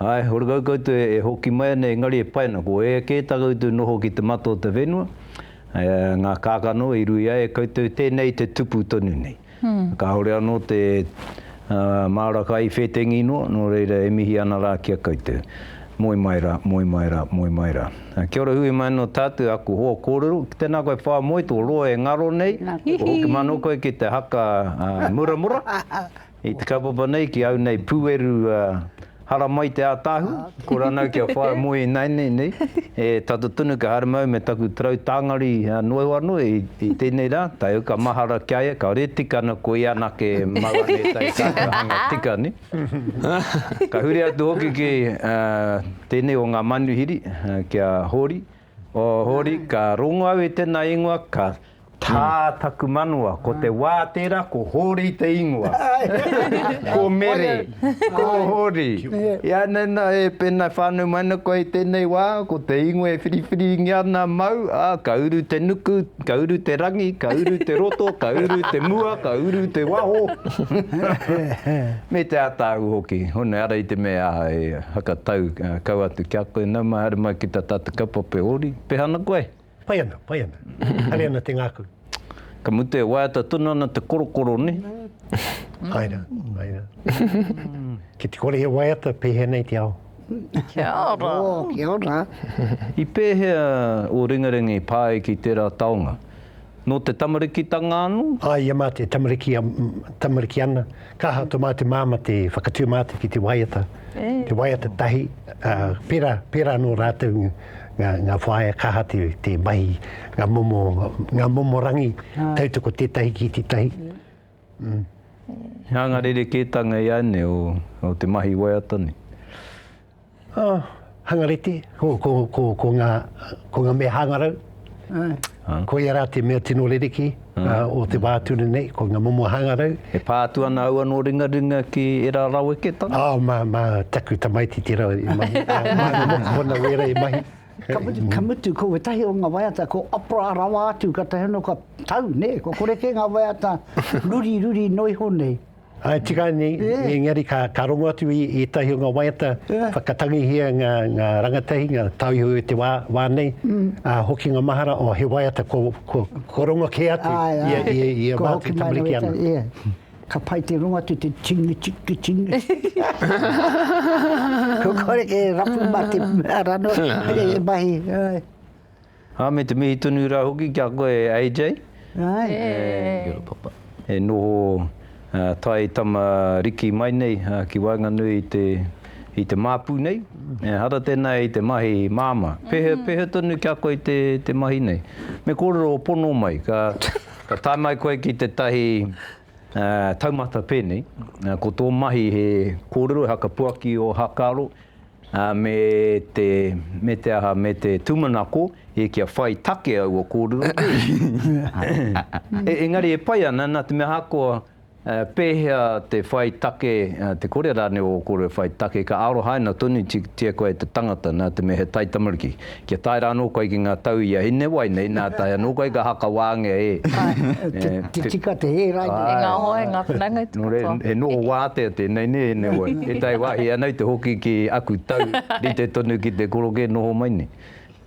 Ae, horekau koutou e hoki mai ana engari e pai ana, ko ea kē tā koutou noho ki te mata o te whenua, ngā kākano i ruia e koutou tēnei te tupu tonu nei. Kāore anō te māra ka i whētengi noa, nō reira e mihi ana rā ki a koutou. Moe mai rā, moe mai rā, moe mai rā. Kia ora hui mai anō tātou, aku hoa kōrero. Tēnā koe Whāmoe, tō roa e ngaro nei, kua hoki mā anō koe ki te haka muramura. I te kaupapa nei ki au nei pueru haramai te atahu ko ranau kia whaia moe inainei nei e tata tonu kia haere mau me taku tarau tangari noe wanoe i tenei ra taio ka mahara kia ia ka reti kana ko ia anake mau ana etai tatou hanga tika ne ka huri atu hoki ki tenei o nga manuhiri kia hori. O Hori, ka rongo au i tena ingoa, ka tā taku manawa, ko te wā tērā ko Hori te ingoa. Ko Mere, ko Hori. Ianei nā, e pēnā whānau mai ana koe i tēnei wā, ko te ingoa e whiriwhiringia ana mau, ā, ka uru te nuku, ka uru te rangi, ka uru te roto, ka uru te mua, ka uru te waho, me te ātāu hoki. Hone, ara i te mea aha e. Whakatau kau atu ki a koe. Nau mai, haere mai ki ta tatu kaupapa ori. Peha ana koe? Pai ana, pai ana. Haere ana te ngaku. Ka mutu e waiata tonu ana te korokoro, ne? Pai ra, pai ra. Ki te kore he waiata, pehea nei te ao? Kia ora. Oh, kia ora. I pehea o Ringaringa i pa ai ki tera taonga? Nō te tamarikitanga anō? Āe, ia mā te tamariki, tamariki ana. Ka aha tō mātou māmā te whakatū mātou ki te waiata, te waiata tahi, ā, pērā, pērā anō rātou ngā, ngā, ngā whaea, ka aha te, te mahi, ngā momo, ngā momo rangi, tautoko tētahi ki tētahi. He anga rerekētanga i a ēnei o, o te mahi waiata nei. Oh, hangarite, ko, ko, ko, ko, ngā, ko ngā mea hāngarau. Ai. Ah. Ko ia rā te mea tino rerekē mm. uh, o te wā tuna nei, ko ngā momo hāngarau. E pā atu ana au anō ringaringa ki era raweketanga? Oh, mā, mā taku tamaiti te rau i mahi. mā ngā mokopona wēra i mahi. Ka mutu, ka mutu, ko wetahi o ngā waiata, ko opera rawa atu, ka tahi anō ka tau, ne? Ko kore kē ngā waiata ruri, ruri noiho nei. Ai, tika ni, yeah. engari ka, ka rongo atu i, i tahi o ngā waiata, yeah. whakatangihia ngā, ngā rangatahi, ngā tauiho i te wā, wā nei, mm. uh, hoki ngā mahara, o oh, he waiata ko, ko, ko rongo kē atu, ai, ai. ia, ia, ia ko mātu tamariki ana. Yeah. Ka pai te rongo atu te tingi, tingi, tingi. ko kore ke rapu mā te rano, e mahi. Ai. Ā, me te mihi tonu rā hoki ki a koe, AJ. Right. Kia ora, Papa. E noho tae tama riki mai nei ki waenganui i te, i te māpu nei. Ehara tēnā i te mahi māmā. Pēhea, pēhea tonu ki a koe i te, te mahi nei? Me kōrero o pono mai, ka, ka tae mai koe ki tētahi. Taumata pēnei, ko tō mahi he kōrero, he whakapuaki o Hakaaro me te, me te aha, me te tūmanako i kia whai take aua kōrero kē. Engari e pai ana, nā te mea ahakoa pēhea te whai take, te kore rānei ō kōrero e whai take, ka arohaina tonutia koe e te tangata, nā te mea he taitamariki. Kia tae ra anō koe ki ngā tau i a Hinewai nei, nā tae anō koe ka hakawāngia e. Te tika, te hē rānei. Ai. E ngā hoa, e ngā whanaunga e te katoa. Nō reira, he noho wātea tēnei nē, Hinewai? E tae wāhi ana i te hoki ki aku tau, rite tonu ki te korokē noho mai nei.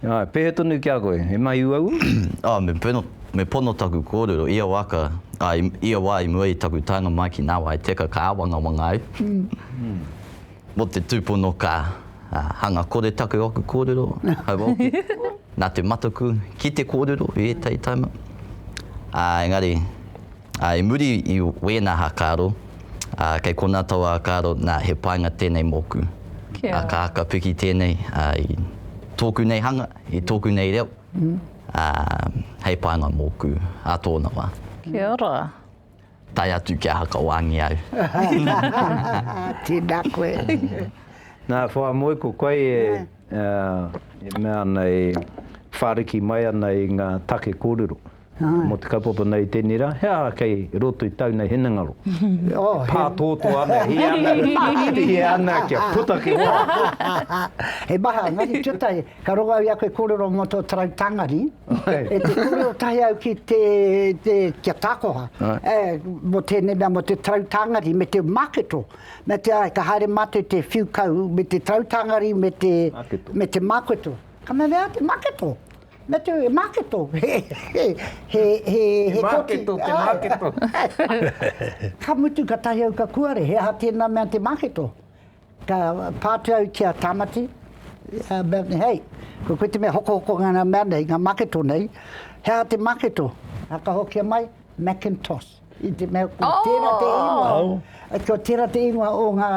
Āe, pēhea tonu ki a koe? He mahi uaua? Oh, me pono, me pono taku kōrero. Ia wā ka, ā, ia wā i mua i taku taenga mai ki Nāwai Teka ka āwangawanga au. Mō te tūpono ka hanga kore taku aku kōrero, hau oke, nā te mataku ki te kōrero i ētahi taima. Ā, engari, i muri i wēnā hākaro, kei konā tau ākaro, nā, he painga tēnei mōku. Ka haka piki tēnei i tōku nei hanga, i tōku nei reo, hei painga mōku ā tōna wā. Kia ora. Tae atu kia haka wāngi au. Tēnā koe. Nā, whāmoe ko koe e mea ana, e whāriki mai ana i ngā take kōrero mō te kaupapa nei i tēnei rā, he aha kei roto i tāu nei hinengaro? E pā tōtō ana, hē ana, hē ana kia puta ki waho. He maha, engari tūtahi, Ka rongo au i a koe kōrero mō tō tarau tāngari, e te kōrero tahi au ki te, te, ki a Tākoha, e, mō tēnei mea, mō te tarau tāngari me te māketo. Mea te ārai, ka haere mātou te whiu kau me te tarau tāngari me te, me te māketo. Ka mea, mea te māketo? Mea te, e māketo? he, he, he, he, he koti. Te māketo, te māketo. ka mutu, ka tahi au ka kuare, he aha tēnā mea te māketo? Ka pātuatia Tāmati, Melanie Hay, ko koe te mea hokohoko ngā ngā mea nei, ngā maketo nei, he aha te maketo? A ka hokia mai, Macintosh. I te mea ko tērā te ingoa, ko tērā te ingoa o ngā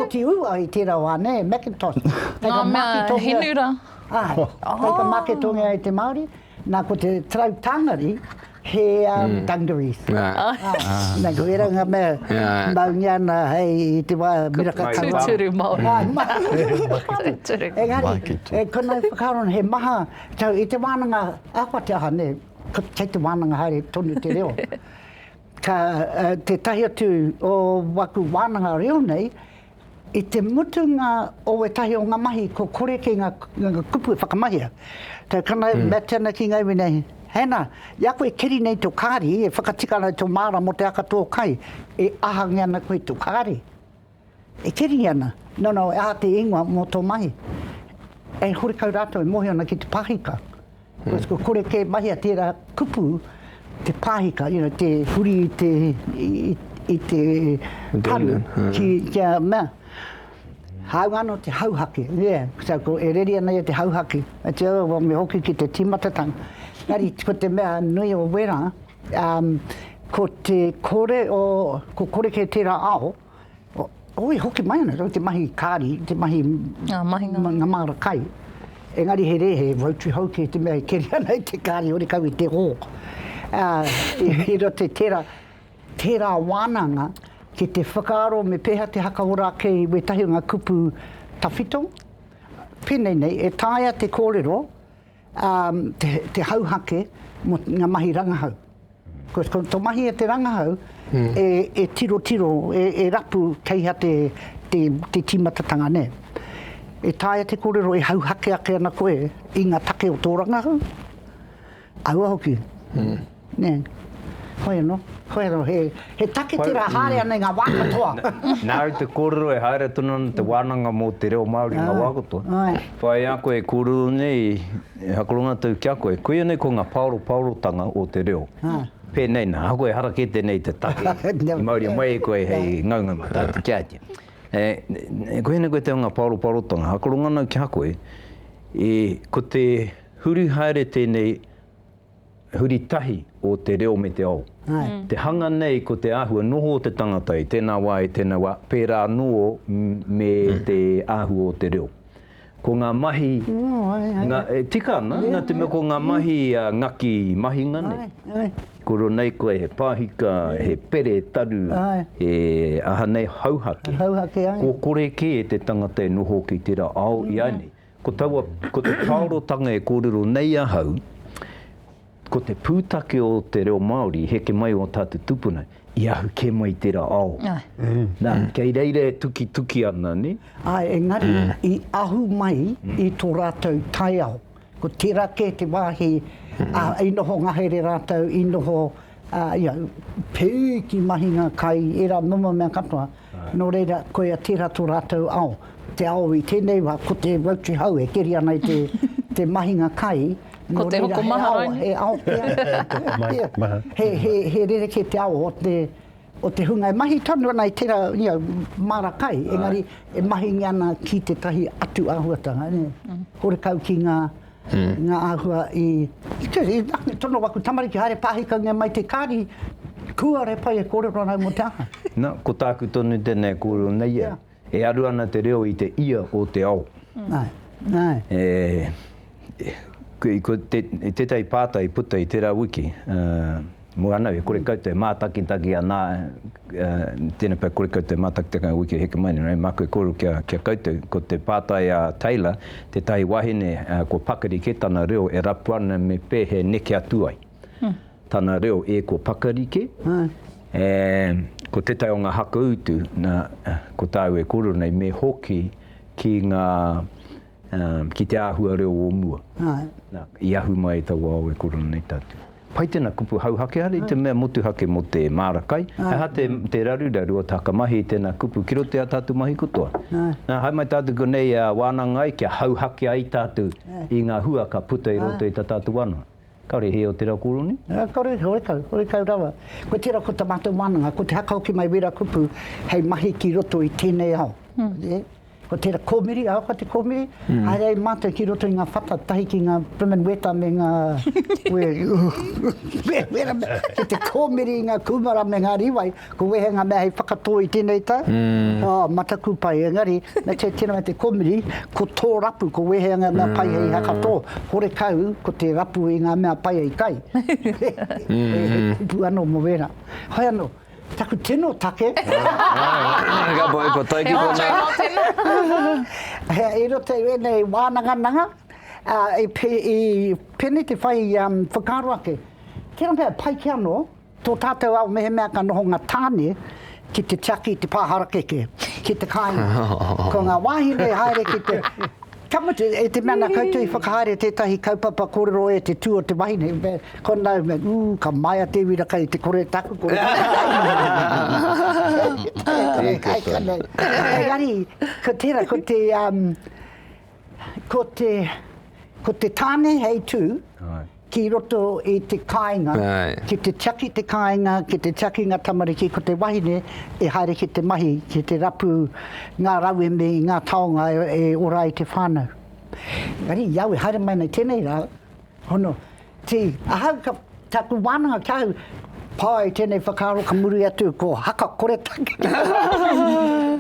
koti ua i tērā wā, nē, Macintosh. Ngā mea he nura. Āe, kei te maketongia e te Māori. Na ko te trau tangari he um, mm. dungarees. Yeah. Oh. Ah. Na ko era nga me yeah. maungi ana hei te wa miraka kanga. Tuturu Māori. Ah, Tuturu. Engari, e kono e whakaron he maha, tau i te wānanga awha te aha ne, kei te wānanga haere tonu te reo. Ka uh, te tahi atu o waku wānanga reo nei, I te mutunga o wētahi o nga mahi ko kore ki nga kupu e whakamahia. Tau kana e Matana ki nga iwi nei, Hana, i a koe e keri nei to kari, e whakatika ana to maara mo te aka to kai, e ahange ana koe to kari. E keri ana, no no e aha te ingoa mo to mahi. E horekau ratou e mohio ana ki te pahika. Because kua kore kē mahia tērā kupu te pāhika, you know, te huri i te, i te paru ki, kia mea, hāunga anō te hauhake, yeah, so ko e reri ana ia te hauhake, ā te ora me hoki ki te tīmatatanga. Engari ko te mea nui o wērā, ko te kore o, kua kore kē tērā ao, Oi hoki mai ana rau te mahi kāri, te mahi ngā māra kai. Engari he rē, he voutu hou kē te mea e keri ana i te kāri hore kau i te hō. I roto i tērā, tērā wānanga ki te whakaaro me pēhea te haka ora ake i wētahi o ngā kupu tawhito. Pēnei nei, e taea te kōrero te hauhake mō ngā mahi rangahau. Ko to mahi e te rangahau e tirotiro e rapu kei ha te te timatatanga ne. E taea te korero e hauhake ake ana koe i nga take o to rangahau? Aua hoki. Ne. Hoi ano. Hoi ano he he take tera haere ana i nga wa katoa. Na au te korero e haere tonu ana te wananga mo te reo Maori i nga wa katoa. Whai a koe e korero nei E hakoronga atu ki a koe, koia nei ko nga paoropaorotanga o te reo. Penei na, ahakoa e hara kete nei te take i mauria mai e koe hei ngaungau atu ki a ia. E, koia nei koe te o nga paoropaorotanga, hakoronga nau ki a koe, e, ko te huri haere tenei, Huri tahi o te reo me te ao. Te hanga nei ko te āhua noho o te tangata i tēnā wā, i tēnā wā, pērā anō me te āhua o te reo. Ko ngā mahi, ngā, e tika ana, nā te mea ko ngā mahi ngaki mahinga nei, koro nei koe he pāhika, he pere taru, he aha nei, hauhake, kō kore kē te tangata e noho ki tērā ao ināianei. Ko taua, ko te pāorotanga e kōrero nei ahau, ko te pūtake o te reo Māori, heke mai o tātou tupuna, i ahu kē mai i tērā ao. Nā, kei reira e tukituki ana, nē? Āe, engari, i ahu mai i tō rātou taiao. Ko tērā kē te wāhi, ā, i noho ngahere rātou, i noho, ā, ia, pēui ki mahinga kai, ērā momo mea katoa. Nō reira, koia tērā tō rātou ao. Te ao i tēnei wā, ko te Rotary Hau e keri ana i te mahinga kai. Ko te hokomaha rānei. He ao pea. He rerekē te ao o te hunga e mahi tonu ana i tērā māra kai, engari e mahingia ana ki tētahi atu āhuatanga. Horekau ki ngā. i ngā āhua i te tono waku tamariki haere pāhikaungia mai te kāri kua re pai e kōrero ana au mō te aha? Na, ko tāku tonu tēnā e kōrero nei ia, e aru ana te reo i te ia o te ao. Ko tētahi pātai i puta i tērā wiki, Mua ana, e kore kau te mātakitaki anā, tēnei pea kore kau te mātakitaki ngā wiki heke mai nei, rānei māku e kōrero ki a, ki a koutou, ko te pātai a Taylor, tētahi wahine kua pakari kē tana reo e rapu ana me pē he neke atu ai tana reo e kua pakari kē, e, ko tētahi o ngā haka utu, nā, ko tāu e kōrero nei, me hoki ki ngā, Um, ki te āhua reo o mua. Ai. Na, i ahu mai e taua ao e korona nei tatu. Pai tena kupu hauhake hara i te mea motuhake mo te maara kai. Ai. He aha te, te raruraru o te hakamahi i tena kupu ki roto i a tatu mahi katoa. Ai. Na, hae mai tatu konei a Wanangai kia hauhake ai tatu i nga hua ka puta i roto i ta tatu wano. Kare he o te ra koroni? Nga kore, horekau, horekau rawa. Ko tera ko ta matou wananga, ko te hakahoki mai wera kupu hei mahi ki roto i tenei ao. Ye. Ko tera komiri, ahakoa te komiri, haere ai matou ki roto i nga whata tahi ki nga Bremen Weta me nga Wera, Wera, Wera, ki te komiri i nga kumara me nga riwai. Ko wehe nga mea hei whakatō i tēnei tau? Mm. Oh, mataku pai, engari, me te tira me te komiri, ko tō rapu, ko wehe nga mea mm. pai hei hakatō, hore kau, ko te rapu i nga mea pai hei kai. Mm. e, e kupu ano mo wera. Hoi ano, taku tino take. Ka pai pa tai ki kona. E roto i wēnei wānanga nanga, uh, i, i pēnei te whai um, whakaro ake. Tēnā mea, pai ki anō, Tō tātou ao mehemea ka noho ngā tāne ki te tiaki i te pā harakeke, ki te kāinga. Ko ngā wāhine i haere ki te, ka mutu, i te mea nā koutou i whakahaere tētahi kaupapa kōrero e te tū o te wahine, me, ko nāu me, ū, ka maea te uira kai te kore taku kore. Engari, ko tērā, ko te, ko te, ko te tāne hei tū, ki roto i te kāinga, ki te tiaki te kāinga, ki te tiaki ngā tamariki, ko te wahine e haere ki te mahi, ki te rapu ngā rauemi, ngā taonga e ora ai te whānau. Engari, i au e haere mai nei tēnei rā, hono, tī, ahau ka, tāku wānanga ki ahau, pai tēnei whakaaro ka muri atu, ko haka koretake.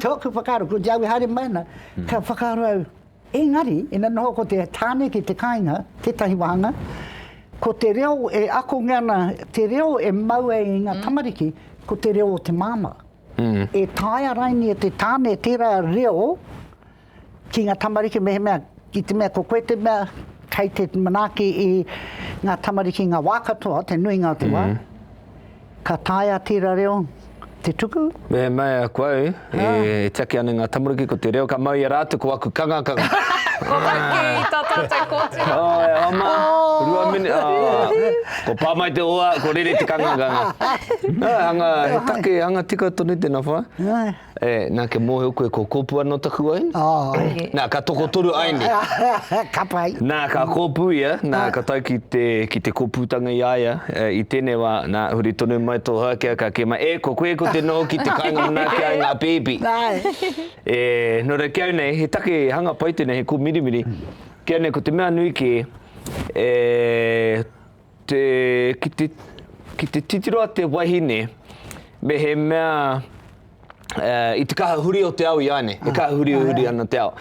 Tōku whakaaro, ko te au e haere mai ana, ka whakaaro au, Engari, ina noho ko te tāne ki te kāinga, tētahi wāhanga, ko te reo e akongia ana, te reo e mau ai i ngā tamariki, ko te reo o te māmā. E taea raini e te tāne tērā reo ki ngā tamariki mehemea, i te mea ko koe te mea kei te manaaki i ngā tamariki ngā wā katoa, te nuinga o te wā, Ka tae a tera reo te tuku? Me mai aku au, e tiaki ana nga tamariki ko te reo ka mau ia ratu ko aku kangakanga. Ko whakki i ta tatou kotinga. Oh e hoa ma, rua minit, oh. Ko pa mai te hoa, ko rere te kangakanga. He take, hanga tika tonu tena wha. E, na, kia mohio koe ko kopu ano taku aina. Oh. Na, ka tokotoru aine. ka pai. Na, ka kopu ia, na, ah. ka tau ki te, ki te koputanga i aia, e, i tene wa, na, huri tonu mai to hakea ka kema, e, ko koe ko te noho ki te kainga muna ki ai nga pipi. e, no re kia nei, he take hanga pai tene, he ko mirimiri, kia nei ko te mea nui ke, e, Te, ki te, ki te titiro a te wahine, me he mea, uh, i te kaha huri o te ao i āne, e kaha huri huri ana te ao.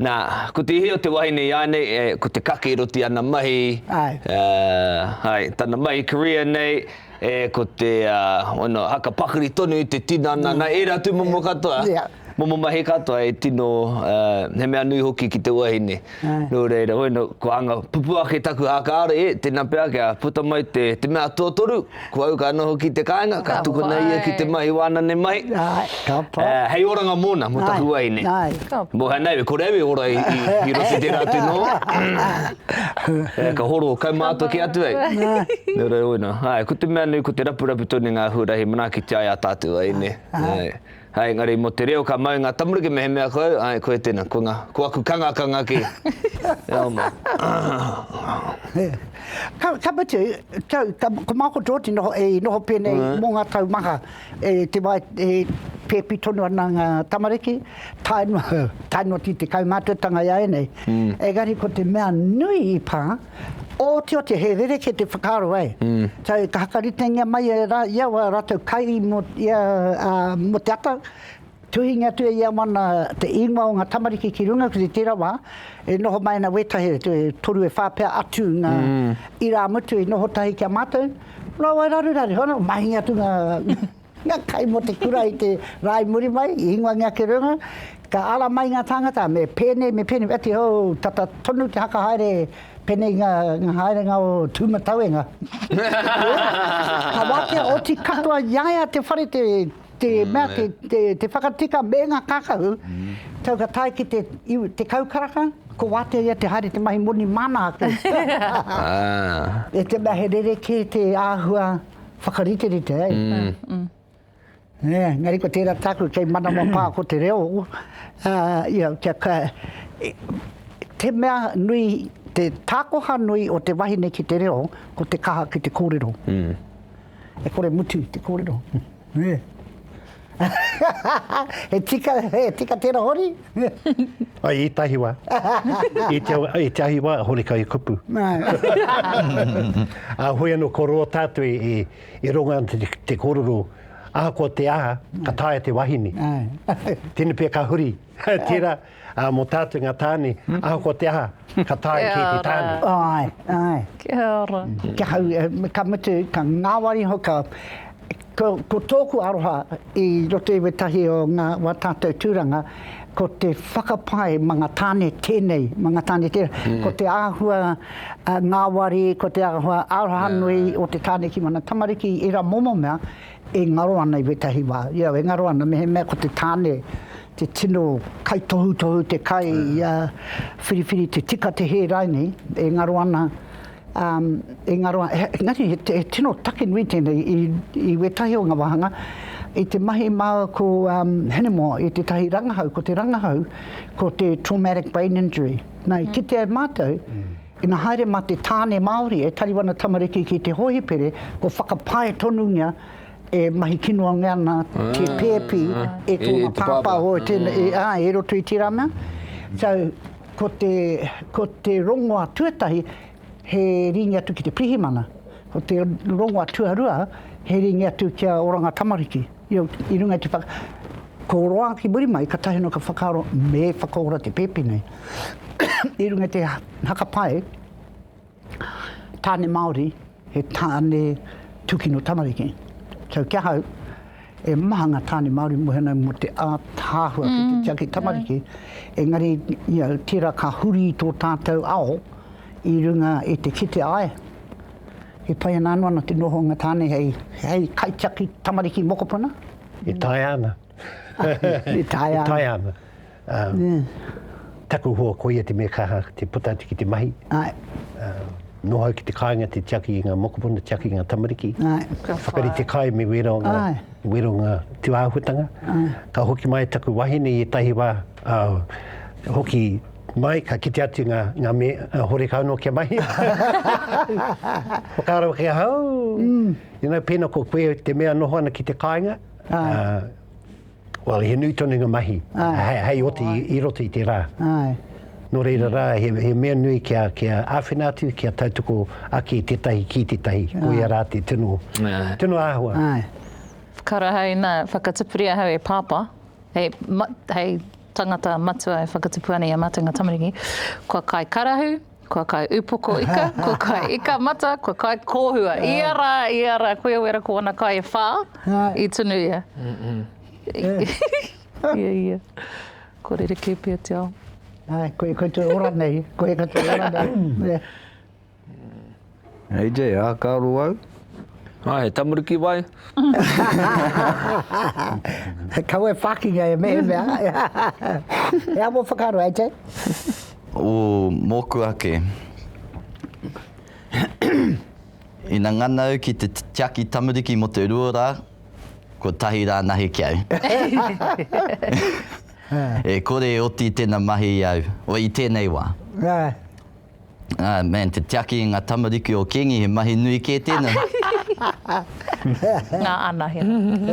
Nā, ko te ihi o te wahine i āne, e, ko te kake roti ana mahi, ai. Uh, ai, tana mahi career nei, e, ko te, uh, ono, haka pakari tonu i te tinana, nā, ērā tūmomo katoa. Yeah. Momo mahi katoa e tino, he mea nui hoki ki te wahine. Nō reira, hoi nō, kua anga pupū ake taku hākāre, e, tēnā pea kia puta mai te mea tuatoru, kua uka anō hoki te kāinga, ka tukuna ia ki te mahi wānane mai, hei oranga mōna, mō taku wahine. Mō hānau, e kore au e ora i roto i tērā atu noa. Ka horo kaumātua kē atu au. Nō reira, hoi nō, ko te mea nui, ko te rapurapu tonu ngā huarahi manaaki te ai a tātou wahine. Hai engari mo te reo ka mau nga tamariki mehemea koe ae koe tena ko nga ko aku kangakanga ki reo mai. Ka mutu, tau, ko Makoto te noho, e noho pēnei mō ngā tau maha, e te wā e pēpi tonu ana ngā tamariki, tae noa, tae noa ki te kaumātuatanga i a ēnei. Engari ko te mea nui i pā, Otioti, he rerekē te whakaaro, ē. Kai, ka hakaritengia mai e rā, ia wā rātou kai mō ia, ā, mō te ata, tuhingia atu e ia wana te ingoa o ngā tamariki ki runga, ki tērā wā, e noho mai ana wētahi, e toru e whā pea atu ngā irāmutu i noho tahi ki a mātou, rāua e raruraru, mahingia atu ngā. Nga kai mo te kura i te ra i muri mai, i ingoa nge ake reunga, ka ara mai nga tangata, me penei, me penei, ati hou, tata tonu te haka haere, penei nga haerenga o Tumatauenga. Ka watea oti katoa i a ia te whare, te, te mea, te, te, te whakatika me nga kakahu, tau ka tae ki te, te kaukaraka, ko watea ia te haere te mahi moni mana ake. E te mea he rerekē te ahua. whakariterite ai. Mm. Yeah, mm. ngari ko tērā tāku kei manama pā ko te reo. Uh, ah, yeah, kia ka, e, te mea nui, te tākoha nui o te wahine ki te reo, ko te kaha ki te kōrero. Mm. E kore mutu te kōrero. He tika, he tika tera hori? Ai, i tahi wa. I te ahi wa, hori kai kupu. A hoi ano ko ro tatu i rongo ano te kororo, ahakoa te aha, ka taea te wahine. Tene pe ka huri. Tera. Ā, mō tātou ngā tāne, ahakoa te aha, ka taea e kēti tāne. Kia ora. Āe, āe. Kia ora. Kia hau, ka mutu, ka ngāwari hoki au. Ko, ko tōku aroha i roto i wētahi o ngā, wā tātou tūranga, ko te whakapae ma ngā tāne tēnei, ma ngā tāne tēnei. Ko te āhua ngāwari, ko te āhua arohanui o te tāne ki mana tamariki, ērā momo mea, E ngaro ana i wētahi wā, ia e ngaro ana mehemea ko te tāne te tino kaitohutohu te kai ia whiriwhiri te tika te hē rainei, e ngaro ana um, e ngaro ana, engari he, he tino take nui tēnei i, i wētahi o ngā wāhanga, i te mahi māua ko um, Hinemoa i tētahi rangahau, ko te rangahau, ko te traumatic brain injury. Nā, i kitea e mātou, mm. Ina haere ma te tāne Māori e tari wana tamariki ki te hohipere, kua whakapae tonungia e mahi kinoange ana te pēpi e tōna pāpā hoi tēnei, āe, e roto i tērā mea. So, ko te, ko te rongoa tuatahi, he rīngi atu ki te pirihimana. Ko te rongoa tuarua, he rīngi atu ki a Oranga Tamariki. I runga i te whaka. Ko roa ki muri mai, katahi anō ka whakaaro me whakaora te pēpi nei. I runga i te hakapae, tāne Māori, he tāne tūkino tamariki. So kia hau, e maha ngā tāne Māori mōhena mō te ātaahua ki te tiaki tamariki. Engari, you know, tērā ka huri tō tātou ao i runga i te kite ai. He pai ana anō ana te noho o ngā tāne hei, hei kaitiaki tamariki mokopuna? E taea ana. e taea ana. E taea ana. Um, yeah. Taku hoa koia te mea kaha te puta atu ki te mahi. Ai. Um, noho ki te kāinga te tiaki i ngā mokopuna, tiaki i ngā tamariki. Ai. Ka whakari te kai me wera o ngā, Ai. wera o ngā tūāhuatanga. Ai. Ka hoki mai taku wahine i etahi wā, uh, hoki Mai, ka kite atu nga, nga me, horekau no kia mahi. Whakaaro ki ahau, mm. you know, pena ko koe te mea noho ana ki te kainga, Ai. Uh, well, he nui tonu nga mahi, hei, hei oti oh, i, i roto i te rā. Ai. No reira rā, he, he mea nui kia, kia āwhina atu, kia tautoko ake tētahi ki tētahi, ko ia rā te tino, tino āhua. Ai. Karaha ina whakatupuri ahau e Pāpā, hei, ma, hei Tangata matua e whakatupu ana i a matou nga tamariki, kua kai karahu, kua kai upoko ika, kua kai ika mata, kua kai kohua. Ia ra, ia ra, koia wera ko ana kai e wha, i tunu ia. Ia, ia. Kua rerekē pea te ao. Koe, koe te ora nei, koe katoa e ora nei. Hei te ākaro au. Ā, he tamariki wai? Kau e whākinga e mehemea. He amo whakaaro, hei te? Ū, mōku ake. Ina ngana au ki te tiaki tamariki mō te rua rā, kotahi rā nahi ki au. E kore e oti tēna mahi i au, o i tēnei wā. Ah man te tiaki i nga tamariki o kingi he mahi nui ke tena. Nga anahera.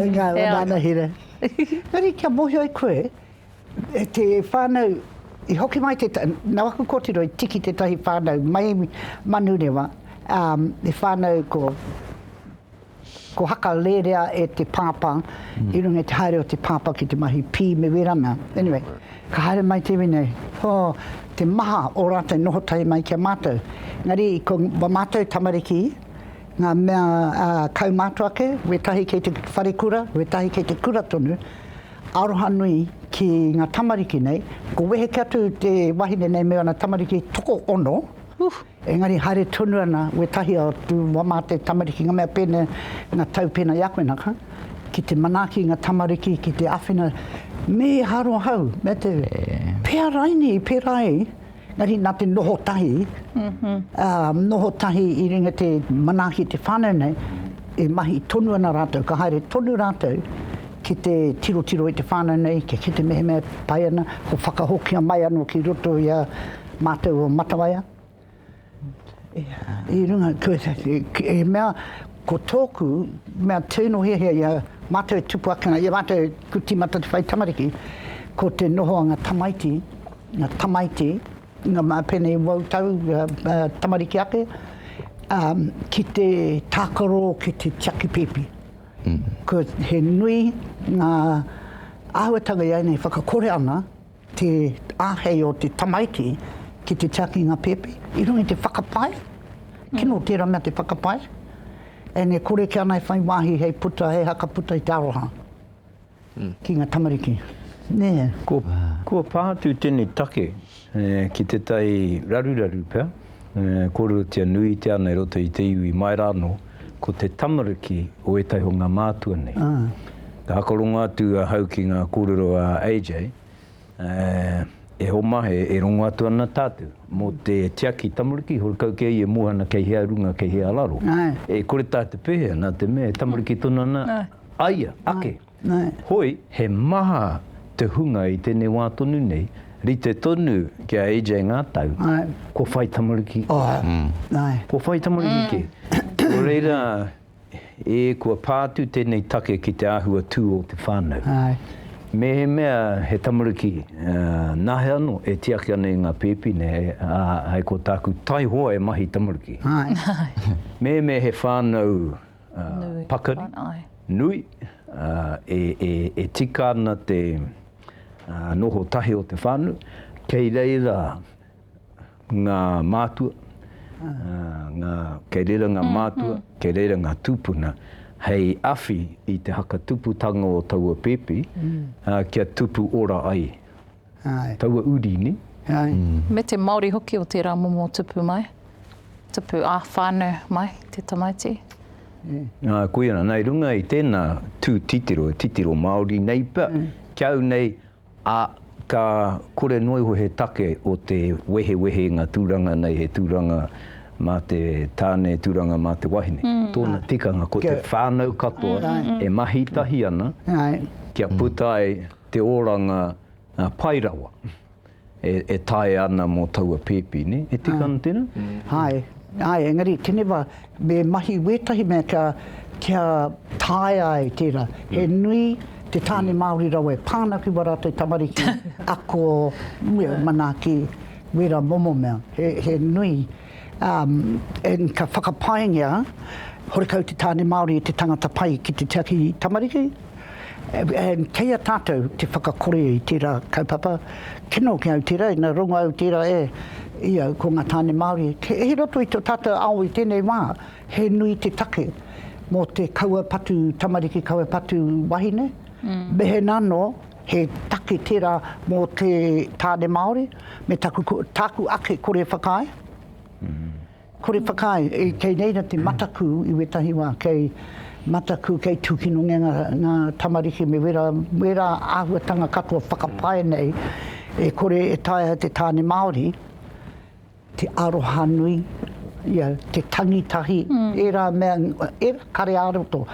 Nga anahera. Engari kia mohio e koe te whanau i hoki mai te nau aku kotiro i tiki tetahi whanau mai manurewa e whanau ko Ko haka rerea e te pāpā i runga i te haere o te pāpā ki te mahi pī me wērā mea. Anyway, ka haere mai te iwi nei, oh, te maha o rātou noho tahi mai ki a mātou. Engari, ko wā mātou tamariki, ngā mea uh, kaumātua ake, wētahi kei te whare kura, wētahi kei te kura tonu, aroha nui ki ngā tamariki nei. Ko wehe ke atu te wahine nei me ana tamariki toko ono, uh, Engari haere tonu ana wētahi o tū wamāte tamariki i ngā mea pēnei, ngā tau pēnei i a koe naka, ki te manaaki ngā tamariki ki te āwhina me haro hau, me te pēa raine i pērā ai, engari nā te noho tahi, noho tahi i runga te manaaki te whānau nei, e mahi tonu ana rātou, ka haere tonu rātou ki te tirotiro i te whānau nei, kia kite mehemea e pai ana, ko whakahokia mai anō ki roto i a Mātou o Matawaia, i runga he mea ko tōku mea tino hiahia i a mātou e tupu ake ana, i a mātou e ku tīmata te whai tamariki, ko te noho a ngā tamaiti, ngā tamaiti, ngā pēnei wau tau tamariki ake, ki te tākaro, ki te tiaki pēpi. He nui ngā āhuatanga i a ēnei whakakore ana, te āhei o te tamaiti ki te tiakinga pēpi, i runga i te whakapae, kino tērā mea te whakapae, and e kore ki ana e whai wāhi hei puta, hei haka puta i te aroha ki ngā tamariki. Nē. Kua pā atu tēnei take ki te tai raruraru pea. kōrerotia nuitia ana i roto i te iwi mai rā anō, ko te tamariki o ētahi o ngā mātua nei. Ka whakarongo atu ahau ki ngā kōrero a AJ, e oma, e rongo atu ana tātou mō te tiaki tamariki, horekau kē ia e moe ana kei hea runga, kei hea raro. E kore tātou pēhea, nā te mea e tamariki tonu ana a ia ake. Hoi, he maha te hunga i tenei wa tonu nei, rite tonu ki a AJ nga tau, kua whai tamariki. Kua whai tamariki ke. No reira, e kua pa atu tenei take ki te ahua tu o te whanau. Mehemea he tamariki, nahe ano e tiaki ana i nga pepi nei, a, hai ko taku taihoa e mahi tamariki. Mehemea he whanau, pakari nui e tika ana te noho tahi o te whānau. Kei reira ngā mātua, kei reira ngā mātua, kei reira ngā tūpuna hei awhi i te hakatuputanga o taua pēpi kia tupu ora ai. taua uri, nē? Me te Māori hoki o tērā momo tupu mai, tupu ā-whānau mai te tamaiti. Koia nā, i runga i tēnā tū titiro, e titiro Māori nei pea, ki au nei, ā, ka kore noa iho he take o te wehewehenga tūranga nei, he tūranga mā te tāne, tūranga mā te wahine. Tōna tikanga, ko te whānau katoa e mahi tahi ana kia puta ai. te oranga pai rawa e taea ana mō taua pēpi, nē? E tika ana tēnā? Āe, āe, engari teneva me mahi wētahi mea kia, kia taea ai tērā. He nui te tāne Māori rawa e pā ana ki wā rātou tamariki ako, manaaki, wērā momo mea. He, he nui. Um, and ka whakapaengia, horekau te tāne Māori e te tangata pai ki te tiaki tamariki, and kei a tātou te whakakore i tērā kaupapa, kino ki au tērā, ina rongo au tērā e, i au, ko ngā tāne Māori, he, he roto i tō tātou ao i tēnei wā, he nui te take mō te kaua patu tamariki, kaua patu wahine, mm. mehena anō, He take tērā mō te tāne Māori me taku, tāku ake kore whakaae. Kore whakaae, e, kei reira te mataku i wētahi wā, kei mataku, kei tūkinongia ngā, ngā tamariki me wērā, wērā āhuatanga katoa whakapae nei e kore e taea te tāne Māori Te arohanui, ia, te tangi tahi, ērā mea, ērā kare ā-roto.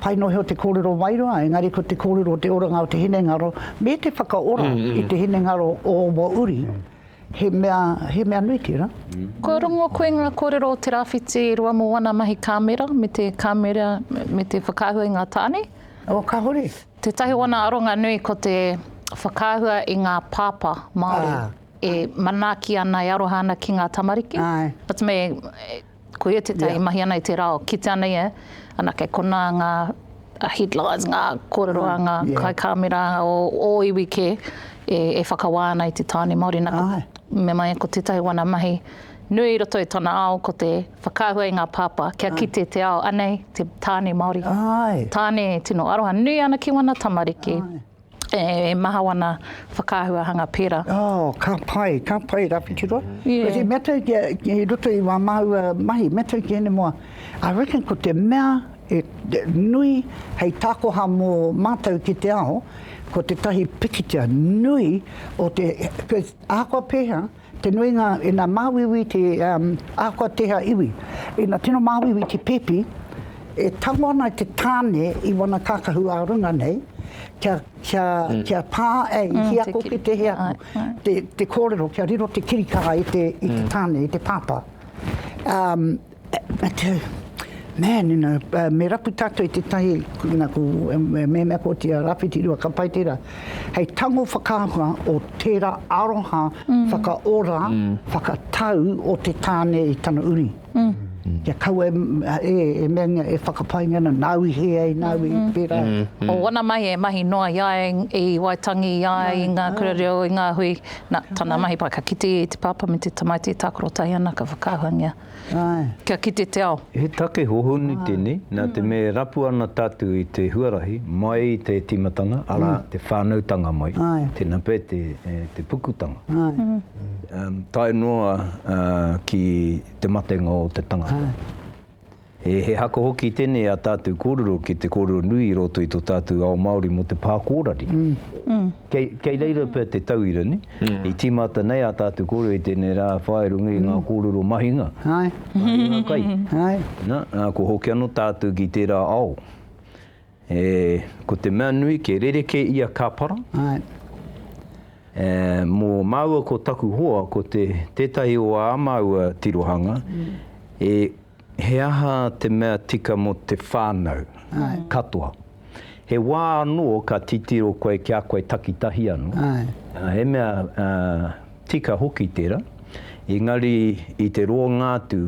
Pai noa iho te kōrero wairua, engari ko te kōrero o te oranga o te hinengaro, me te whakaora i te hinengaro o ō uri, he mea, he mea nui tērā. Kua rongo koe ngā kōrero o te rāwhiti e rua mō ana mahi kāmera me te kāmera me te whakaahua i ngā tāne? Oh, kāhore. Tētahi o ana aronga nui ko te whakaahua i ngā pāpā Māori. E manaaki ana, e aroha ana ki ngā tamariki. Āe. But me, ko ia tētahi yeah. mahi ana i te rao, kite ana ia, anake kona ngā headlines, ngā kōrero a ngā yeah. kai kāmera o, o iwi kē, e, e whakawā ana i te tāne Māori. Nā, ko, me mai ko tētahi wana mahi, nui i roto i tona ao ko te whakaahua i ngā pāpā kia Ai. kite te ao anei te tāne Māori. Ai. Tāne tino aroha nui ana ki wana tamariki. Ai. E maha wana whakaahuahanga pera. Oh, ka pai, ka pai ra whitirua. Yeah. Me tau ki, ki roto i wa maua mahi, me tau ki ene moa. I reckon ko te mea e nui hei takoha mo matou ki te ao, ko tetahi pikitia nui o te, cuz ahakoa peha, Te nuinga ina māuiui te ahakoa tēhea iwi, ina tino māuiui te pēpi, e tango ana i te tāne i wana kākahu ā runga nei, kia, kia, kia pā, e, i hia ko ki te hea ko, te, te kōrero kia riro te kirikara i te, i te tāne, i te pāpā. Matiu, Man, you know, uh, me rapu tātou i tētahi, nā, ko, me mēmea ko te Rawhiti Rua ka pai tērā, hei tango whakaahua o tērā aroha mm. whakaora, mm. whakatau o te tāne i tana uri. Mm. Kia kau e, e, e meangia, e whakapainga na, nāu i he ai, nāu mm -hmm. i mm-hmm. pērā. Mm -hmm. O wana mai e mahi noa i ai, i Waitangi, i ai, i ngā kura reo, i ngā hui, na, tana mahi pai ka kite i te pāpā me te tamaiti e tākaro tai ana, ka whakaahuangia. kia kite te ao. He take hohonu tēnei, nā te mea e rapu ana tātou i te huarahi mai i te tīmatanga, arā, te whānautanga mai, tēnā pea te pukutanga, tae noa ki te matenga o te tangata. He haka hoki tēnei i ā tātou kōrero ki te kōrero nui i roto i tō tātou ao Māori mō te pā kōrari. Kei, kei reira pea te tauira, ne? Mm. I tīmata nei ā tātou kōrero i tēnei rā whā e runga i ngā mm. kōrero mahinga. Ai. Mahinga kai. Ai. Na, nā, ko hoki anō tātou ki tērā ao. E, ko te mea nui, ke rereke ia ka para. Ai. E, mō māua ko taku hoa, ko te tētahi o ā māua tirohanga, mm. e, He aha te mea tika mō te whānau katoa? He wā anō ka titiro koe ki a koe takitahi anō, he mea tika hoki tērā, engari i te roanga atu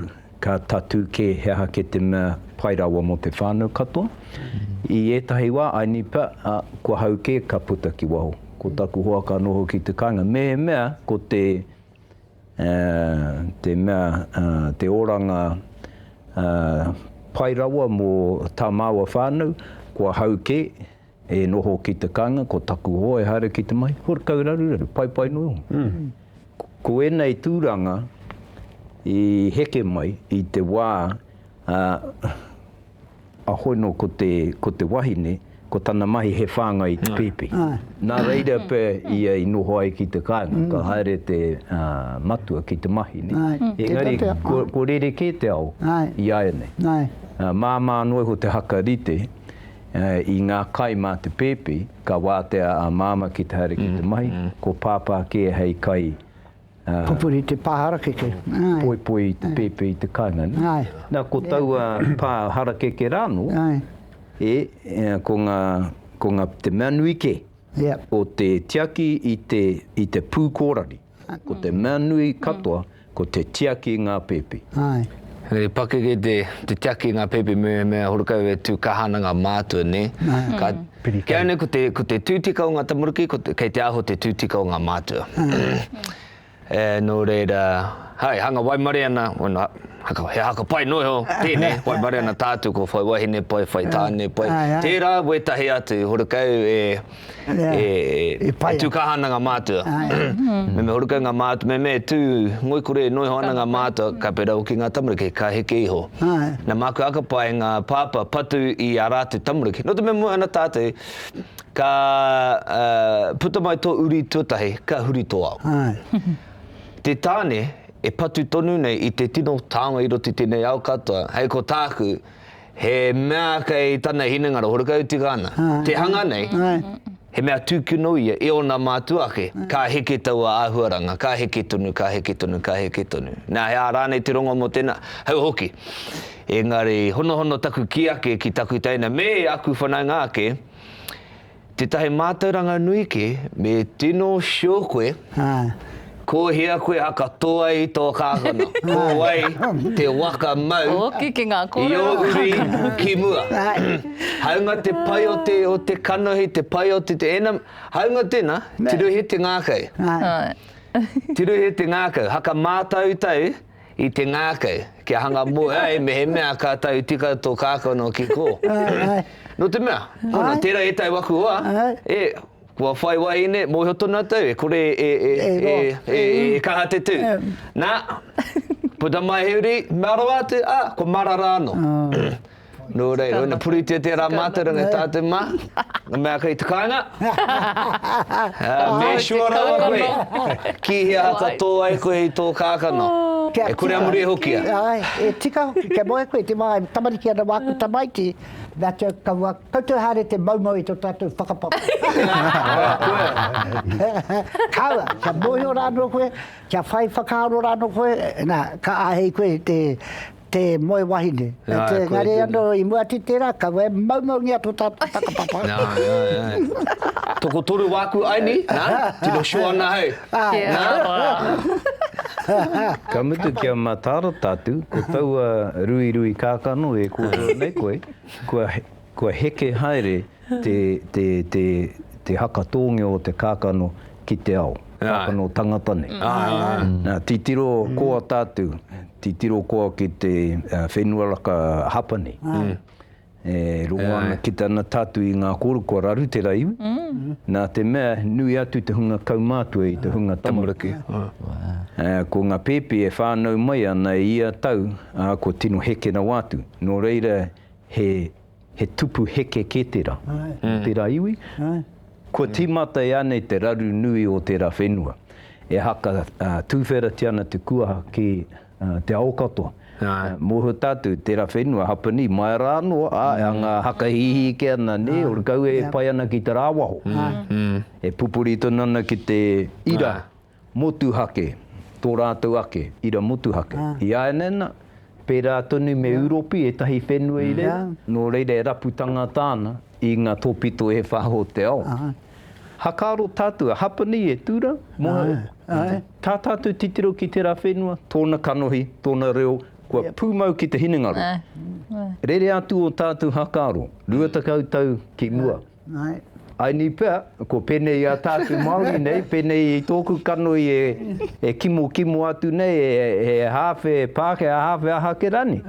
ka tatū kē he aha kē te mea pai rawa mō te whānau katoa. I ētahi wā, I nipa, ā, kua hau kē ka puta ki waho. Ko taku hoa ka noho ki te kāinga. Mehemea ko te. te mea te oranga pai rawa mō tā māua whānau, kua hau kē e noho ki te kāinga, ko taku hoa e haere ki te mahi, horekau raruraru, paipai noa iho. Ko ēnei tūranga i heke mai i te wā Ahoi no ko te, ko te wahine, ko tana mahi he whāngai i te pēpi. Nā reira pea ia i noho ai ki te kāinga, ka haere te matua ki te mahi. Engari, ko rerekē te ao i āianei. Māmā anō iho te haka rite i ngā kai mā te pēpi, ka wātea a Māmā ki te haere ki te mahi, ko Pāpā kē hei kai, Pupuri te pā harakeke. Poipoi te pēpē i te kāinga. Nā, ko taua pā harakeke rā anō, ko ngā, ko ngā, te mea nui kē, ko te tiaki i te, i te pū kōrari. Ko te mea nui katoa, ko te tiaki i ngā pēpē. He pakeke te, te tiaki i ngā pēpē me, me horekau e tū kāhana ngā mātua, nē? Ka. Piri Kei au nei ko te tūtika o ngā tamariki, kei te aho te tūtika o ngā mātua. Nō reira, hai, hanga waimare ana, wano, he haka pai noa iho, tēnei, waimare ana tātou ko whai wahine pai, whai tāne pai, tērā wētahi atu horekau e tū kaha ana ngā mātua. Me me horekau ngā mātua, me me tū ngoikore noa iho ana ngā mātua, ka pērā hoki ngā tamariki, ka heke iho. Āe. Na māku aka pai ngā pāpā patu i ā rātou tamariki. Nō te mea moe ana tātou, ka puta mai tō uri tuatahi, ka huri tō ao. Āe. Te tāne e patu tonu nei i te tino taonga i roto i tēnei ao katoa, hei ko tāku, he mea kei tana hinengaro, horekau tika ana. Āe. Te hanga nei. Āe. He mea tūkino ia e ōna mātua ake, ka heke taua āhuaranga, ka heke tonu, ka heke tonu, ka heke tonu. Nā, he aha rānei te rongo mō tēnā? Hau hoki. Engari, honohono taku kī ake ki taku teina me aku whanaunga ake, tētahi mātauranga nui kē me tino show koe, Ko hea koe a katoa i tō kākano? Ko wai te waka mau i ō uri ki mua? Hāunga te pai o te o te kanohi, te pai o te te ena, hāunga tēnā, tirohia te ngākau. Tirohia te ngākau, haka mātautau i te ngākau, kia hanga mō ai mehemea ka tau tika tō kākano ki kō. Nō te mea, hono, tērā ētahi wakuoa e Kua whai wahine, mōhio tonu atou, e kore e, e, e, e, e, e kaha te tū. Nā, puta mai he uri, mea rawa atu, ā, kua marara anō. Nō reira, ina puritia tērā mātauranga e tātou mā, ngā mea kei te kāinga, make sure rawa koe, ki hea haka tō ai koe i tō kākano, e kore a muri e hokia. Āe, e tika hoki, kia moe koe, te wā e tamariki ana wā aku tamaiti. Nā, kia kaua koutou haere te moumou i tō tātou whakapapa. Kaua, kia mōhio rānō koe, kia whai whakaaro rānō koe, nā, ka āhei koe te, te moe wahine. Engari anō, i mua atu i tērā, kaua e moumoungia tō tātou whakapapa. Tokotoru wāku aini, nā, tino sure ana hei. Ka mutu kia matarata atu, ko taua ruirui kākano e kōrero nei koe, kua heke haere te haka tōngeo o te kākano ki te ao, kākano tangata nei. Nā, titiro koa tātou, titiro koa ki te whenua raka hapa nei. E rongo ana ki tana tatū i ngā kōrero kua raru te ra iwi, nā te mea nui atu te hunga kaumātua i te hunga tamariki. Ko ngā pēpi e whānau mai ana i ia tau, ā, kua tino heke rawa atu. Nō reira, he tupu heke kē te ra, te ra iwi. Kua tīmata e anei te raru nui o te ra whenua. E haka tūwheratia ana te kuaha ki. Te ao katoa. Moho tatou, tera whenua, hapani, mai ra ano, a, nga hakahihi ike ana, ne, o kau e pai ana ki te ra waho. E pupuri tonu ana ki te ira motuhake, to ratou ake ira motuhake. I aenena, pera tonu me Uropi etahi whenua i reira, no reira e rapu tangata ana i nga topito e wha o te ao. Hakaaro tātou, a Hapa nei e tū rā, tā tātou titiro ki tērā whenua, tōna kanohi, tōna reo, kua pūmau ki te hinengaro. Rere atu ō tātou hakaaro, rua tekau tau ki mua. I ni pea, ko pēnei i a tātou Māori nei, pēnei i tōku kanohi e kimokimo atu nei, he hāwhe Pākehā, hāwhe aha ake rānei.